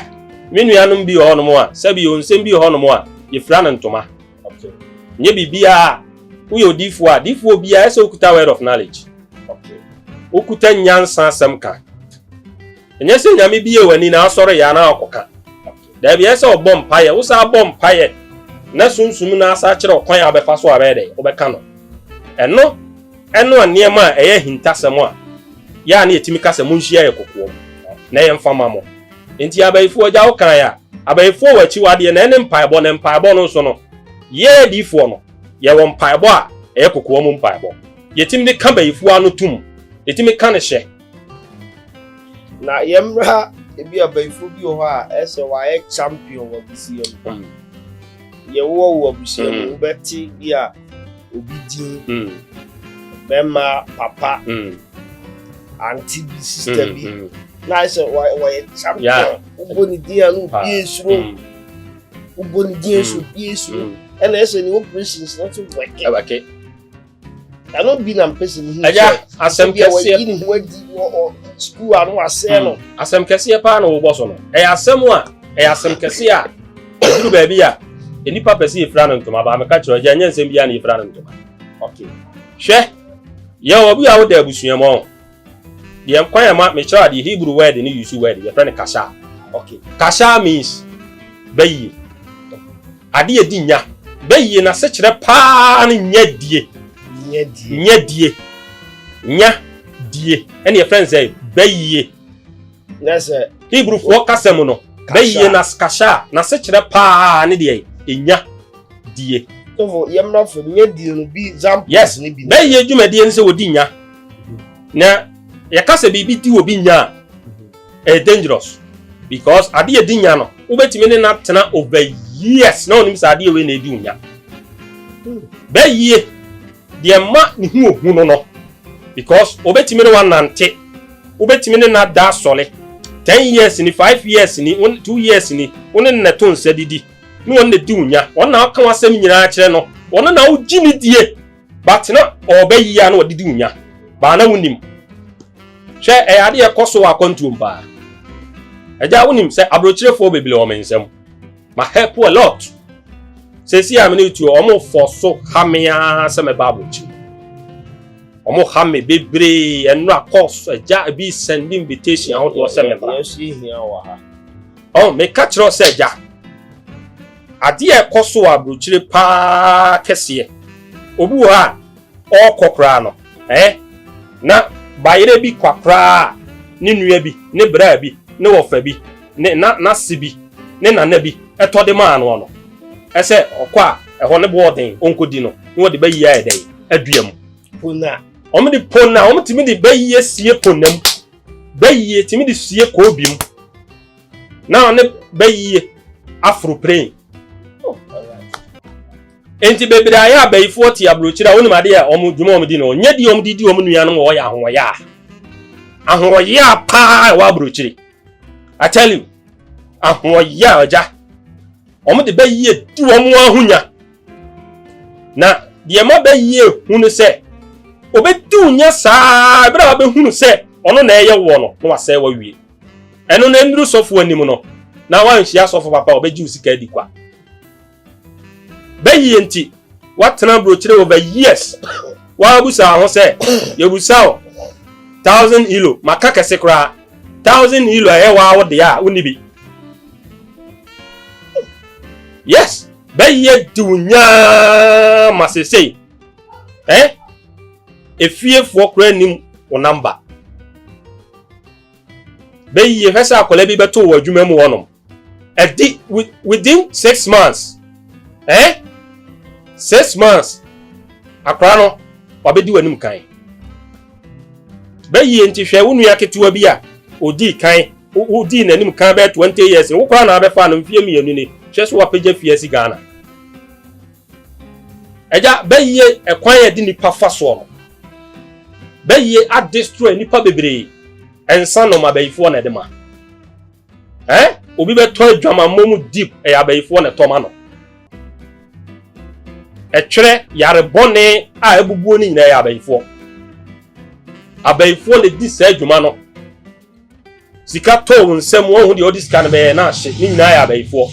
me nuanom bi wɔ hɔnom a sɛbi nsɛm bi wɔ hɔnom a yɛfira no ntoma Okay. Nye biribiara. Woyɛ odiifoɔ a, diifoɔ biara ɛsɛ okuta word of knowledge. Okay. Okuta nyansa asɛm ka. Ɛnyɛ sɛ nyame bi yɛ w'ani na asɔre yɛ anaa ɔkɔka. Daabi ɛsɛ ɔbɔ mpaeɛ, wo saa bɔ mpaeɛ na sunsum no asa akyerɛ ɔkwan a wobɛfa so a bɛyɛ dɛ wobɛka no. Ɛno ɛno a nneɛma a ɛyɛ ahintasɛm a yɛ a na yɛtumi ka sɛ monhyia yɛ kokoam na yɛmfa ma mo. Enti abayifoɔ agya wo kan a, abayifoɔ wɔ akyiwadeɛ na ɛne mpaebɔ, na mpaebɔ no nso no, yɛ adiyifoɔ no, yɛwɔ mpaebɔ a ɛyɛ kokoa mu mpaebɔ. Yɛtumi de ka bayifoɔ ano tom, yɛtumi ka no hyɛ. Na yɛmmra ebi a bayifoɔ bi wɔ hɔ a ɛsɛ wɔayɛ champion wɔ abusua mu. Yɛwɔ wo abusua mu, wobɛte bi a obi din, bɛrima papa, ante bi, sista bi, na ayɛ sɛ wɔyɛ champion, wobɔ ne din a na obi esuro, wobɔ ne din a ɛsɛ obi esuro, ɛna ɛsɛ ne operations no nso wɛke. Ɛno bi na mpɛ sɛ mehu sɛ asɛm kɛseɛ bi ne ho adi wɔ sukuu a no asɛe no. Asɛm kɛseɛ paa na wobɔ so no. Ɛyɛ asɛm a ɛyɛ asɛm kɛseɛ a Ɛduru baabi a, nnipa pɛ sɛ yɛfira no ntoma, baa meka kyerɛ ɔgya, ɛnyɛ nsɛm biara na yɛfira no ntoma. Okay. Hwɛ, yɛn obi a woda abusua mu ɔn. Deɛ kwan a ma mekyerɛ adeɛ Hebrew word ne use word yɛfrɛ no kasha. Okay. Kasha means bɛyie. Adeɛ a ɛdi nya. Bɛyie n'asekyerɛ paa ne nya die. Nya die. Nya die. Nya die. Ɛne yɛfrɛ no sɛ bɛyie. na sɛ hebrufoɔ kasa mu no bɛyie na kasha a n'asekyerɛ paa ne deɛ ɛnya die tofo yɛmmra fam nya die no bi examples yes ne bi bɛyie dwumadie no sɛ wɔdi nya na yɛka sɛ biribi di wɔ bi nya a ɛyɛ dangerous because ade yɛ di nya no wobɛtumi ne na tena over years na onim sɛ adeɛ wei na ɛdi wo nya bɛyie Deɛ ɛma ne ho yɛ hu no no, because obetumi ne wo anante, wobetumi ne no ada asɔre, ten years ni, five years ni, wo two years ni, wo ne no na ɛto nsa didi, ne wɔn na di wo nya, wɔn na woka w'asɛm nyinaa kyerɛ no, wɔn na wogye no die, but na ɔreba yie a na wɔde di wo nya, baa na wonim. Hwɛ, ɛyɛ adeɛ ɛkɔ so wɔ akwantuom paa. Agya wonim sɛ aburokyerefoɔ bebree wɔ me nsam. ma help a lot sɛsi a me ne tuo ɔmo fɔ so ha me ara sɛ mɛba abɔkyi ɔmo ha me bebree ɛnora kɔs agya bi send invitation ahodoɔ sɛ mɛba ɔn meka kyerɛ sɛ agya adeɛ ɛkɔ so wɔ aburokyire paa kɛseɛ obi wɔ hɔ a Ɔɔkɔ koraa no, ɛɛ na bayerɛ bi kwa koraa a ne nua bi, ne braa bi, ne wɔfa bi, ne na n'ase bi, ne nana bi tɔ de maa noɔ no, ɛsɛ ɔkɔ a ɛhɔ no boɔ ɔden ɔnkɔ di no, ne wɔde bayie ayɛ dɛn? Adua mu. Pona. Wɔn de pona, wɔn tumi de bayie sie pona mu, bayie tumi de sie koobi mu, na wɔn ne bayie aforo pren. Enti bebree ayɛ abayifoɔ te aburokyire a wonim adeɛ a wɔn dwuma a wɔdi no nyɛ deɛ wɔde di wɔn nuanom a wɔyɛ ahoɔyaa. Ahoɔyaa paa a ɛwɔ aburokyire. I tell you, ahoɔyaa agya. Wɔn de bɛyie di wɔn ahonya. Na deɛ ma bɛyie hu no sɛ obɛdi wo nya saa ɛberɛ a wabɛhunu sɛ ɔno na ɛyɛ woɔ no na wasɛe wawie. Ɛno na ɛnnuru sɔfo anim no na wanhyia sɔfo papa a ɔbɛgye wo sika adi kwa. bɛyi yɛ nti woatena burokyire over years woabusaa ho sɛ yɛbusa wo thousand elo maka kɛse koraa thousand elo a ɛyɛ waa wo deɛ a wonni bi yes bɛyɛ di wo nyaa ma sesei eh? efiefoɔ koraa nim wo namba bɛyie hwɛ sɛ akwadaa bi bɛto wɔ adwuma mu hɔnom ɛdi within six months eh six months akora no wabɛdi w'anim kan bɛyie nti hwɛ wo nua ketewa bi a odii kan wodii n'anim kan bɛyɛ twenty years wo koraa na abɛfa no mfie mmienu ni hwɛ so wapagya fie asi Ghana ɛgya bɛyie ɛkwan a ɛde nipa fa soɔ no bɛyie adestroy nipa bebree ɛnsa nɔma bɛyifoɔ na ɛde ma. Eh? Obi bɛtɔ adwamammɔ mu deep ɛyɛ abayifoɔ na ɛtɔ ma no. Ɛtwerɛ yare bɔne a abubuo no nyinaa ɛyɛ abayifoɔ. Abayifoɔ na ɛdi saa adwuma no. Sika tɔɔ wo nsam wɔhu deɛ ɔde sika no bɛyɛ na ahye ne nyinaa ɛyɛ abayifoɔ.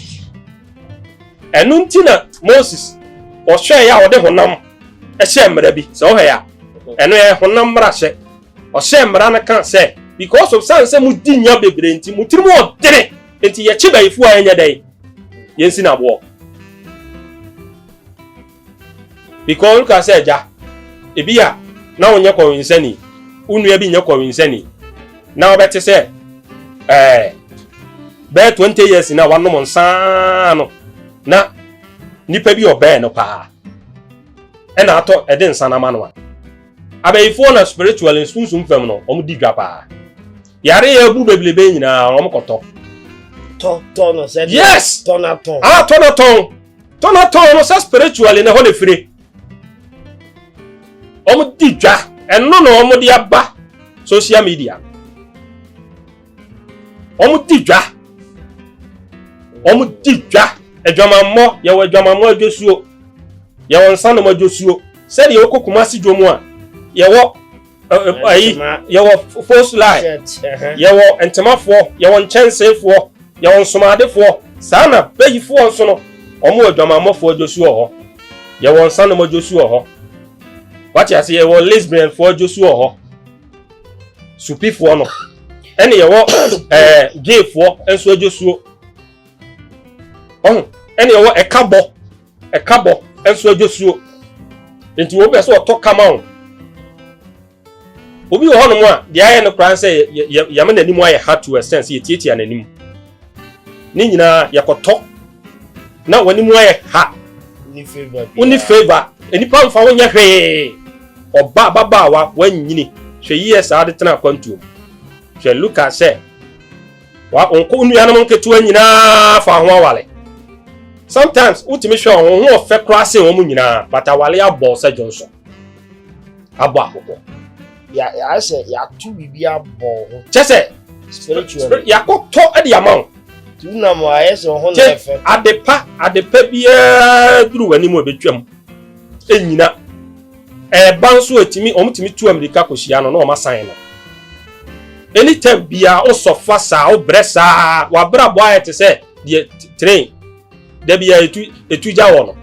Ɛno nti na Moses ɔhwɛɛ a ɔde honam ɛhyɛ mmara bi sɛ ɔhwɛ a ɛno yɛ honam mmarahyɛ Ɔhyɛɛ mmara no ka sɛ, Because of san sɛ mo di nya bebree nti, mo tirim wɔ dene, nti yɛkye bayifo a yɛnyɛ dɛn? Yɛnsi no aboɔ. Because woka sɛ agya, ebi a na wonyɛ kɔwensani, wo nua bi nyɛ kɔwensani, na wobɛte sɛ ɛɛ bɛyɛ 20 years na wanom nsaa no na nipa bi ɔbɛn no paa ɛna atɔ ɛde nsa no ama no a. Abayifoɔ na spiritually sunsum fam no wɔn di dwa paa. Yare yɛ abu bebrebe nyinaa wɔn kɔtɔ. Tɔ tɔ no sɛ. Yes. Tɔ na tɔn. Ah tɔ na tɔn. Tɔ na tɔn no sɛ spiritually na ɛhɔ na efire. Wɔn di dwa ɛno na wɔn de aba social media. wɔn di dwa wɔn di dwa adwamammɔ yɛwɔ adwamammɔ adwosuo yɛwɔ nsanom adwosuo sɛdeɛ wokɔ kumasi dwom a yɛwɔ ayi yɛwɔ post line yɛwɔ ntemafoɔ yɛwɔ nkyɛnseefoɔ yɛwɔ nsomadefoɔ saa na bayifoɔ nso no wɔn wɔ adwamammɔfoɔ adwosuo hɔ yɛwɔ nsanom adwosuo hɔ wate ase yɛwɔ lesbianfoɔ adwosuo hɔ supifoɔ no ɛne yɛwɔ ɛɛ geefoɔ nso adwosuo ɔho ɛne yɛwɔ ɛkabɔ ɛkabɔ nso adwosuo nti wɔn bɛ sɛ ɔtɔ kama o obi wɔ hɔnom a deɛ ayɛ no koraa sɛ yɛma n'anim ayɛ ha to ɛsɛn sɛ yɛtiatia n'anim ne nyinaa yɛkɔtɔ na w'anim ayɛ ha wonni favor nnipa mfa wonyɛ hwee ɔba ababaawa wanyini hwɛ yie saa de tena akwantuo hwɛ luka sɛ nkɔ wo nuanom nketewa nyinaa fa ho awale sometimes wotumi hwɛ wɔn ho ɔfɛ koraa sen wɔn nyinaa but awale abɔ sɛ dwonso abɔ akokɔ yà yà ayɛ sɛ yàto biribi abɔ wo ho. kyɛ sɛ spiritually yàkɔtɔ ɛde ama wo. ti wo nam a ayɛ sɛ ɔho na yɛ fɛ. adepa adepa biara duru w'anim a ebetwam enyina ɛɛba nso etumi wɔn tumi tu amirika kɔ hyia no na wɔn asan no anytime biara wosɔfa saa wobrɛ saa wabrabɔ ayɛ te sɛ deɛ train. da bia ɛtu ɛtu gya wɔ no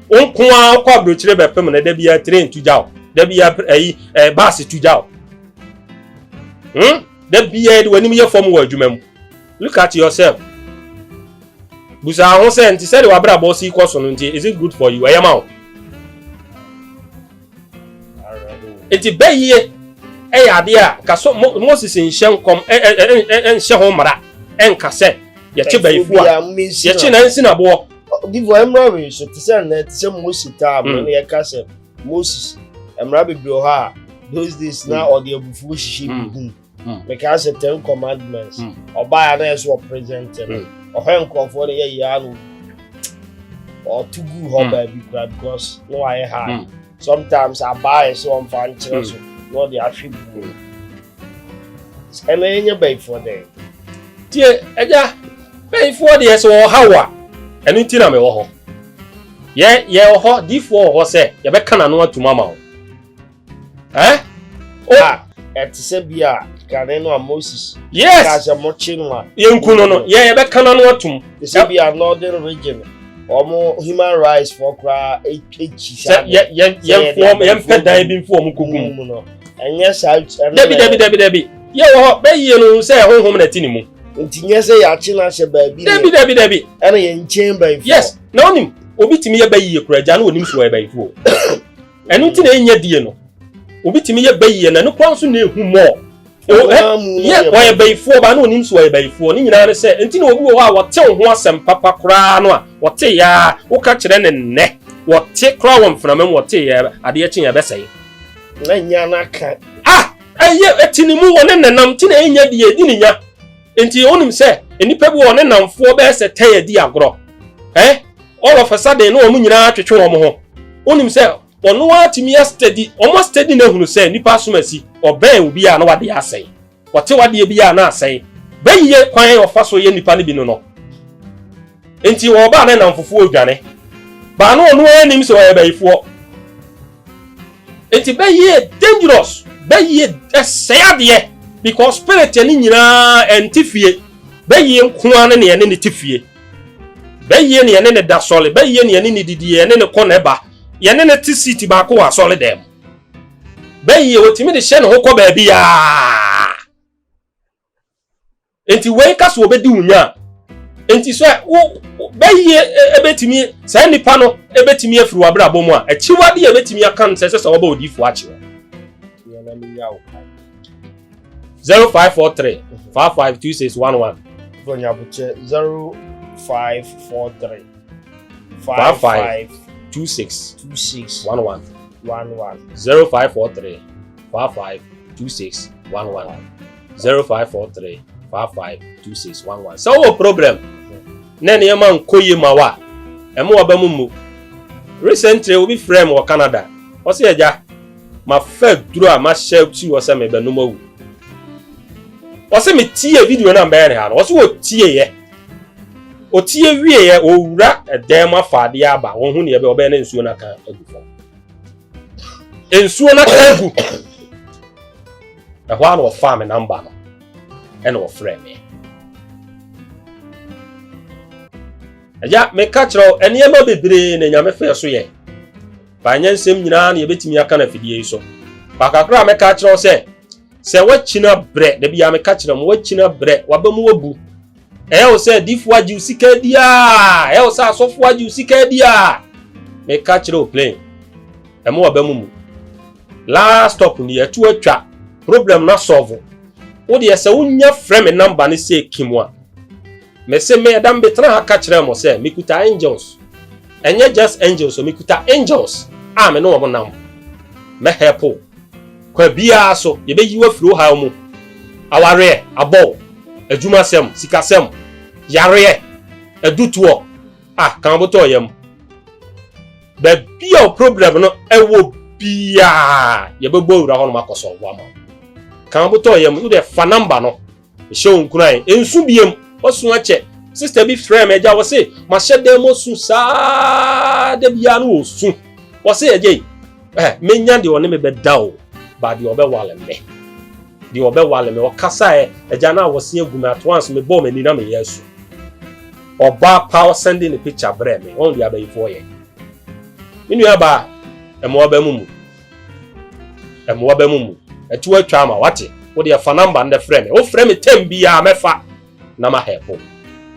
wo nko ara wokɔ aburokyire bɛpem no da bia train tu gya wo da bia ɛyi ɛɛ baase tu gya wo hmm da bia yɛde w'anim yɛ fam wɔ adwuma mu look at yourself busa ho sɛ nti sɛde w'abrabɔ si kɔ so no nti is it good for you ɛyɛ ma wo nti bɛyie ɛyɛ adeɛ a nka so moses nhyɛ nkɔm ɛnhyɛ ho mmara ɛnka sɛ yɛkye bɛyifu a yɛkye na nsi na boɔ. bifo mmara wei so te sɛ nnɛ te sɛ moses taa mo ne yɛka sɛ moses mmara bebree hɔ a those days na ɔde abufuo hyehyɛ bi gu mu. hmm. mekaa sɛ ten commandments hmm. ɔbaa a na yɛ sɛ ɔpresent no hmm. ɔhwɛ nkurɔfoɔ no yɛ yia no ɔto gu hɔ baabi kora because na wayɛ hard sometimes abaa yɛ sɛ ɔmfa nkyerɛ so na ɔde ahwe buo ɛna ɛnyɛ bayifoɔ dɛn tie agya bayifoɔ deɛ sɛ ɔha wo a ɛno nti na mewɔ hɔ yɛ yɛwɔ hɔ difoɔ wɔ hɔ sɛ yɛbɛka n'ano atum ama wo Eh? Oh. Ah, ɛte sɛ bi a kane no a Moses. Yes. Ka sɛ mo kye no a. Yɛnku no no. Yɛ yɛbɛka no ano atom. Te sɛ bi a northern region. Wɔn human rights fɔ koraa ekyi saa. Sɛ yɛ yɛ yɛn fɔ yɛn pɛ dan bi fɔ wɔn koko mu. no. Ɛnyɛ saa. Dabi dabi dabi dabi. Yɛ wɔ hɔ bɛyie no sɛ ɛhohom na ɛte ne mu. Nti nyɛ sɛ yɛakye no ahyɛ baabi. Dabi dabi dabi. Ɛna yɛn nkyɛn bɛyifo. Yes. Na onim obi tumi yɛ bɛyie kura gya na onim so yɛ bɛyifo. ɛno nti na ɛnyɛ die no obi tumi yɛ bɛ yie na ne kwan so na ehu mɔɔ yɛ wɔyɛ bɛyifoɔ baa na onim so wɔyɛ bɛyifoɔ ne nyinaa ne sɛ nti na obi wɔ hɔ a wɔte ho asɛm papa koraa no a wɔte yaa woka kyerɛ ne nnɛ wɔte koraa wɔ mframa mu wɔte yɛ adeɛ kye yɛ bɛsɛe na nya n'aka ah ɛyɛ ɛti ne mu wɔ ne nenam ti na ɛnyɛ deɛ ɛdi ne nya Nti wonim sɛ nnipa bi wɔ ne namfoɔ bɛyɛ sɛ tɛn adi agorɔ. Ɛ all of a sudden na wɔn nyinaa twetwe wɔn ho. Wonim sɛ ɔno ara tumi astadi wɔn astadi na ahunu sɛ nnipa asom asi. Ɔbɛn obi a na wadeɛ asɛe. Ɔte wadeɛ bi a na asɛe. Bɛyie kwan a ɔfa so yɛ nnipa no bi no no. Enti ɔba a ne nnamfofoɔ redwane baa no ɔno ara nim sɛ ɔyɛ bayifoɔ. Enti bɛyɛ dangerous, bɛyɛ ɛsɛe adeɛ because spirit ne nyinaa ɛnte fie. Bɛyɛ nko ara ne nea ne ne te fie. Bɛyɛ nea ne ne da sɔre, bɛyɛ nea ne ne didi, yɛn ne ne kɔ ne ba, yɛn ne ne te seat baako wɔ asɔre dan mu. Bɛyɛ wɔtumi de hyɛ ne ho kɔ baabiara. Enti wei ka so wɔbɛdi wo nya a, enti sɛ wo bɛyie ɛbɛtumi e, saa nipa no ɛbɛtumi afiri w'abrabɔ mu a, akyiwade a ɛbɛtumi aka no sɛ ɛsɛ sɛ wɔbɔ odiifoɔ akye wo. 0543 552611 Bonyabuche 0543 552611 0543 552611 zero five four three five five two six one one sɛ wowɔ problem na nneɛma nkɔ yie ma wo a ɛmo waba mu mmu recently obi frɛ me wɔ canada ɔsɛ agya mafa duro a mahyɛ si hɔ sɛ mebɛnom awu ɔsɛ metie video no a mbɛyɛ ne ha no ɔsɛ wɔtieeɛ ɔtie wieeɛ ɔwura dan mu afa adeɛ aba wɔhu neɛ bɛ ɔbɛyɛ ne nsuo no aka agu fam nsuo no aka agu ɛhɔ a na ɔfaa me namba no ɛna ɔfrɛ me agya meka kyerɛ wo nneɛma bebree na nyame fɛ so yɛ baanyɛ nsɛm nyinaa na yɛbɛtumi aka no afidie yi so baakakora a mɛka kyerɛ wo sɛ sɛ woakyina berɛ da biaa meka kyerɛ mu woakyina berɛ waba mu wabu Ɛyɛ wo sɛ difo agye wo sika adi a, ɛyɛ wo sɛ asɔfo agye wo sika adi a, meka kyerɛ wo plain. Ɛmo aba mu mu. Last stop ni ɛto atwa. Problem na solve. Wo deɛ sɛ wonya frɛ me namba ne sɛ kim a. Mese me ɛda mbetena ha ka kyerɛ mo sɛ mekuta angels. Ɛnyɛ just angels o, mekuta angels a me ne wɔn nam. Mɛ help wo. Kwan biara so, yebeyi wo afiri ɔhaw mu, awareɛ, abɔw, adwumasɛm, sikasɛm, yareɛ, adutoɔ, ah, ka abotɔɔ yam. Baabi a wo problem no wɔ biara, yɛbɛbɔ awura hɔnom akɔsɔlvo ama wo. Ka abotɔɔ yam, wo deɛ fa number no Mehyɛ wo nkuran, nsu biem, wasu akyɛ. Sista bi frɛ me agya, wɔse mahyɛ dan mu su saa da biara no wɔsu. Wɔse agya yi, eh, menya deɛ ɔne me bɛda o, ba deɛ ɔbɛwale me. Deɛ ɔbɛwale me, ɔkasaɛ, agya no a wɔse agu me, at once mebɔɔ m'ani na meyɛ asu. Ɔbaa pa ɔsɛnde ne picture brɛ me, wɔn deɛ abayifoɔ yɛ. Me nua baa, ɛma ɔba mu mu. mmoa bɛ mu mu ɛto atwa ama wate wo deɛ fa namba ndɛ frɛ me wo frɛ me tɛm biara mɛfa na ma help wo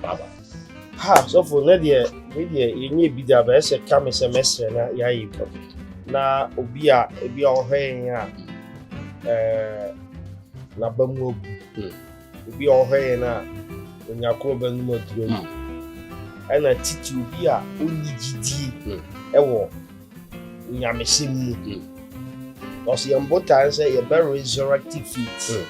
bye bye. ha sɔfo ne deɛ me deɛ yɛnyɛ bi da bɛyɛ sɛ ka me sɛ mɛsrɛ na yɛayɛ bi na obi a ebi a ɔhwɛ yɛn a ɛɛ n'aba mu abu Obi a ɔhwɛ yɛn a onya ko bɛnom aduro no, hmm. ɛna titi obi a ɔnni gyidie hmm. ɛwɔ nyamehyɛm mu. Hmm. Ɔsɛ yɛn botae sɛ yɛbɛ resurrecti faith.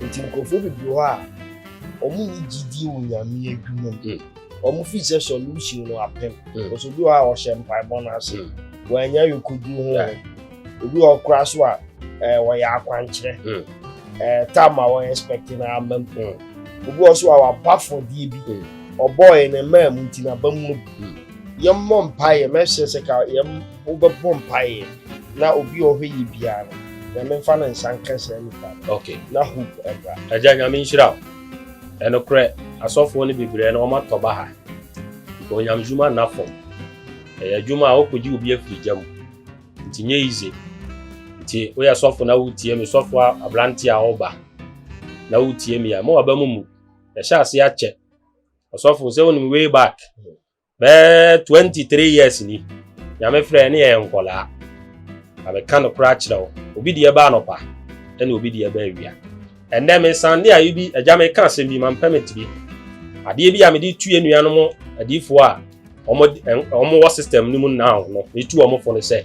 Nti nkurɔfoɔ bebree hɔ a wɔn nni gyidie wɔ nyame adwuma mu. Wɔn fi sɛ solution no apem. Ɔsɛ obi hɔ a ɔhyɛ mpaebɔ no ase. Wɔanya yɛ koduru ho. ebi wɔ koraa so a ɛɛ wɔyɛ akwankyerɛ hmm. ɛɛ tam a wɔyɛ expect na ama mu hmm. obi wɔ so a waba fɔdeɛ bi hmm. ɔbɔɔɛ na mmaa mu nti na aba mu abu yɛn mmɔ mpaeɛ mɛhyɛ sɛ ka yɛn wobɛbɔ mpaeɛ na obi a ɔhwɛ yɛ biara no nyame nfa ne nsa nka saa nipa okay na hope ɛbra agya nyame nhyira wo ɛnokorɛ asɔfoɔ no bebree no wɔmatɔ ba ha onyamedwuma nna fam ɛyɛ adwuma a wokɔgye obi afiri gya mu Nti nyɛ yize. Nti woyɛ sɔfo na wotie me, sɔfo a aberante a ɔba na wotie me a, mo aba mu mu. Yɛhyɛ ase akyɛ. Ɔsɔfo sɛ wonim way back bɛɛ 23 years ni. Nyame frɛ ne yɛyɛ nkɔlaa. Na meka no kora kyerɛ wo. Obi deɛ ba anɔpa ɛna obi deɛ ba awia. Ɛnnɛ mesan ne ayi bi agya meka asɛm bi mampɛ mete bi. Adeɛ bi a mede tu yɛn nuanom adiifoɔ a wɔn wɔ system no mu now no metu wɔn fo no sɛ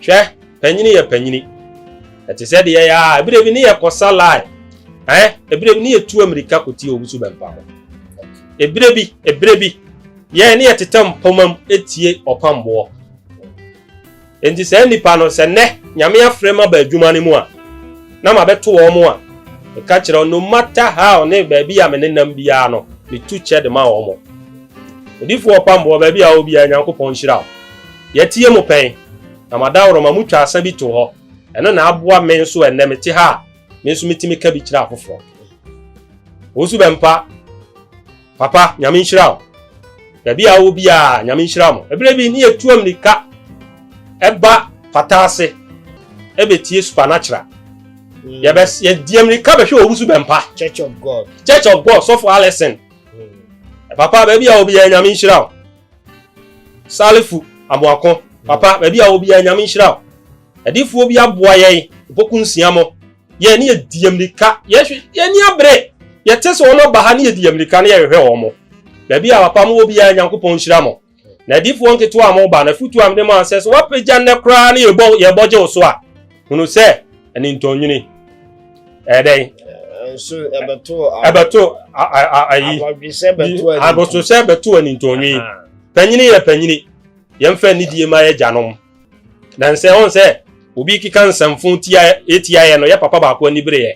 hwɛ panyini yɛ panyini ɛte sɛ deɛ yɛ a ebire bi ne yɛ kɔsa lie ɛn ebire bi ne yɛ tu amirika kotie obi so bɛmpa ho ebire bi ebire bi yɛn ne yɛ tetɛ mpoma mu etie ɔpamboɔ Enti saa nnipa no, sɛ nnɛ Nyame afrɛ maba adwuma no mu a, na mabɛto wɔn a, meka kyerɛ wɔn, no matter how ne baabi a menenam biara no, metu kyɛ de ma wɔn. Odifoɔ Ɔpamboɔ, baabi a ɔwɔ biara, Nyankopɔn nhyira wo. Yɛatie mo pɛn, na mo adaworoma, motwa asa bi to hɔ. Ɛno na aboa me nso ɛnnɛ mete ha a, me nso metumi ka bi kyerɛ afoforɔ. Wo nso bɛmpa. Papa, Nyame nhyira wo. Baabi a wowɔ biara, Nyame nhyira mo. Ɛberɛ bi ne yɛtu ammirika ɛba pata ase ɛbɛtie supernatural. Mm. Yɛbɛ yɛdi ammirika bɛhwɛ owusu bɛmpa. Church of God. Church of God, sɔfo Alison. Mm. Papa, baabi a wɔ biara, Nyame nhyira wo. Salifu Amoako. Papa, baabi a wɔ biara, Nyame nhyira wo. Ɛdifoɔ bi aboa yɛn, mpɔku nsia mo. yɛn ne yɛdi yɛn mmirika yɛhwɛ yɛn ni abere yɛte sɛ wɔn aba ha ne yɛdi yɛn mmirika ne yɛhwehwɛ wɔn mo baabi a papa mo wɔ biara nyankopɔn nhyira mo na adiifoɔ nketewa a mo ba na futu a mede mo ansɛ so wapagya nnɛ koraa ne yɛbɔ yɛbɔ gye wo so a hunu sɛ ɛne ntɔnwini ɛyɛ dɛn ɛbɛto ayi abososɛ bɛto anintɔnwi panyini yɛ panyini yɛmfa anidie ma yɛ gyanom na nsɛ ɔn sɛ obi keka nsɛmfo tia etia yɛ no yɛ papa baako ani bere yɛ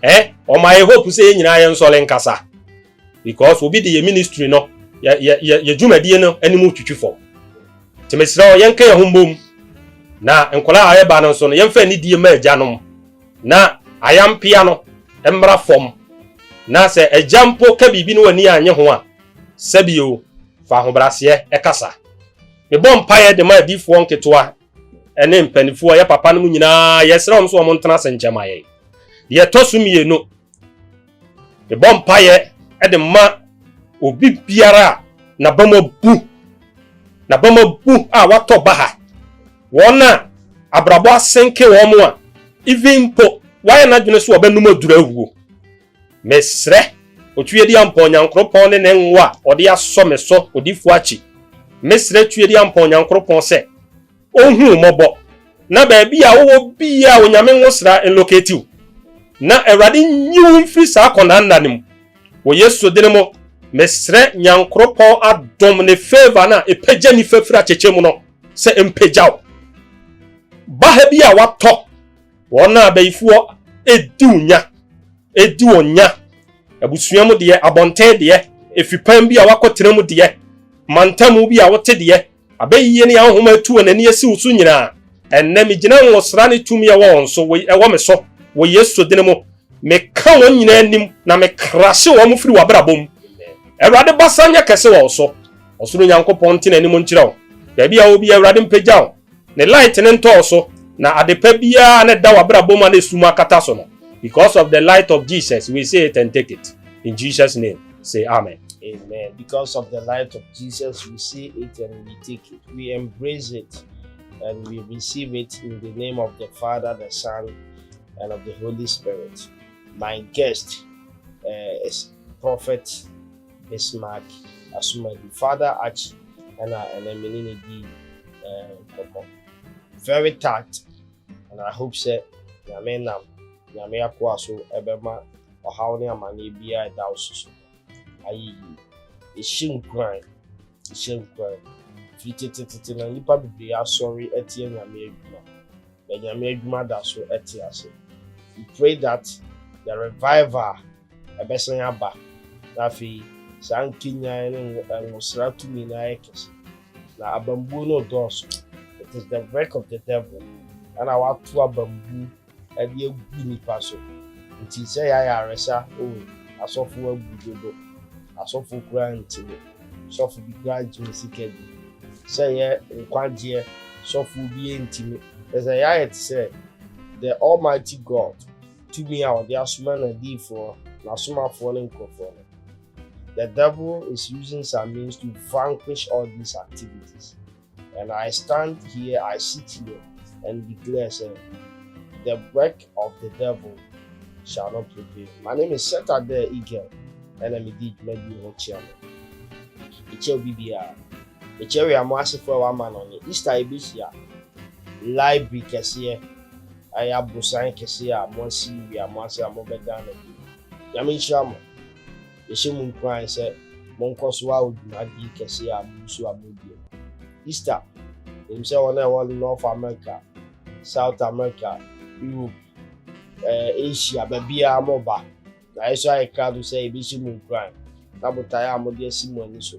eh ɔma yɛ hope sɛ yɛ nyinaa yɛ nsɔre nkasa because obi de yɛ ministry no yɛ yɛ yɛ yɛ dwumadie no anim twitwi fam te mesrɛ ɔ yɛnka yɛ ho mbom na nkɔla a ɛba no nso no yɛmfa ani die ma agya nom na ayampea no mmra fam na sɛ agya mpo ka biribi no w'ani anye ho a sɛbio fa ahobraseɛ ɛkasa Mebɔ mpaeɛ de ma adiyifoɔ nketewa ne mpanimfoɔ a ɛyɛ papa no mu nyinaa, yɛsrɛ wɔn sɛ wɔn ntena ase nkyɛ ma yɛn. Deɛ ɛtɔ so mmienu, mebɔ mpaeɛ de ma obi biara a n'abam abu, n'abam abu a watɔ baha, wɔn a abrabɔ asenke wɔn a, even mpo wɔayɛ n'adwene sɛ wɔbɛnom aduru awuo. Mesrɛ Otuadiampɔn Nyankropɔn ne Ne ngo a Ɔde asɔ me so Odifoɔ akyi. Mesrɛ Tuadiampɔn Nyankropɔn sɛ Ɔnhu wo mmɔbɔ, na baabi a wowɔ biaa Onyame ngosra nlocate wo, na Awurade nyi wo mfiri saa akɔnaa nna no mu. Wɔ Yesu dene mo, mesrɛ Nyankropɔn adom Ne favour no a ɛpagya nifa firi atɛkyɛ mu no sɛ ɛmpagya wo. Ba ha bi a watɔ Wɔn a abayifoɔ di wo nya, di wɔn nya, abusua mu deɛ, abɔnten deɛ, afipam bi a woakɔtena mu deɛ, mantamu bi a wote deɛ, abɛyiyie ne ahonhoma atu wɔn ani asi wo so nyinaa, ɛnnɛ megyina nwosra ne tumi a ɛwɔ wɔn so, wɔ, ɛwɔ me so, wɔ Yesu dini mu, meka wɔn nyinaa anim, na mekrahye wɔn firi w'abrabɔ mu. Awurade basa nyɛ kɛse wɔ wo so. Ɔsoro Nyankopɔn nte n'anim nkyerɛ wo. Baabi a wɔ bi, Awurade mpagya wo. Ne light no ntɔɔ so, na ade pa biara a na ɛda w'abrabɔ mu a na esum akata so no, because of the light of Jesus, we see it and take it. In Jesus name, say amen. Amen. Because of the light of Jesus, we see it and we take it. We embrace it and we receive it in the name of the Father, the Son, and of the Holy Spirit. My guest uh, is Prophet Bismarck Asomadi, Father Archie na ɛnɛ me ne no dii nkɔmmɔ. Very tact and I hope sɛ Nyame nam Nyame akoa so bɛma ɔhaw ne amaneɛ biara a ɛda wo so so no ayɛ yie. Yɛhyɛ nkuran, yɛhyɛ nkuran. Firi tetetete na nnipa bebree asɔre atia Nyame adwuma. na Nyame adwuma da so te ase. We pray that the revival ɛbɛsan aba na afei saa nkenyan ne nwosra tumi no ayɛ kɛse na abambuo no redɔɔso. It is the work of the devil ɛna wato abambu ɛde agu nipa so nti sɛ yɛ ayaresa oh asɔfo abu dodo asɔfo koraa ntumi. Sɔfo bi koraa ntumi sika bi sɛ yɛ nkwagyeɛ sɔfoɔ bi ntumi kyerɛ sɛ yɛayɛ te sɛ the almighty God tumi a ɔde asoma n'adiyifoɔ n'asomafoɔ ne nkurɔfoɔ no the devil is using some means to vanquish all these activities And I stand here, I sit here, and declare, sɛ, The work of the devil shall not prevail. Ma ne me set up there eagle, ɛna me di dwuma bi ho kyia no. Ɛkyɛ obi biara. Ɛkyɛ wia mo asefo a wama no ne Easter ɛbɛhyia. Library kɛseɛ ɛyɛ abosan kɛseɛ a mo asi wia mo ase a mo bɛdan no bi. Nyame nhyira mo. yɛhyɛ mo nkuran sɛ monkɔ so awo dwumadie kɛseɛ a mo nso a moredie no. Easter, Menim sɛ wɔn a ɛwɔ North America, South America, Europe, eh, Asia, baabiara moreba, na yɛso ayɛ krado sɛ yɛbɛhyɛ mo nkuran na botaeɛ a mode asi mo ani so.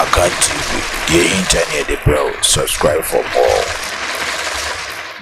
Akan TV, deɛ ɛhinta ne yɛde brɛ wo, subscribe for more.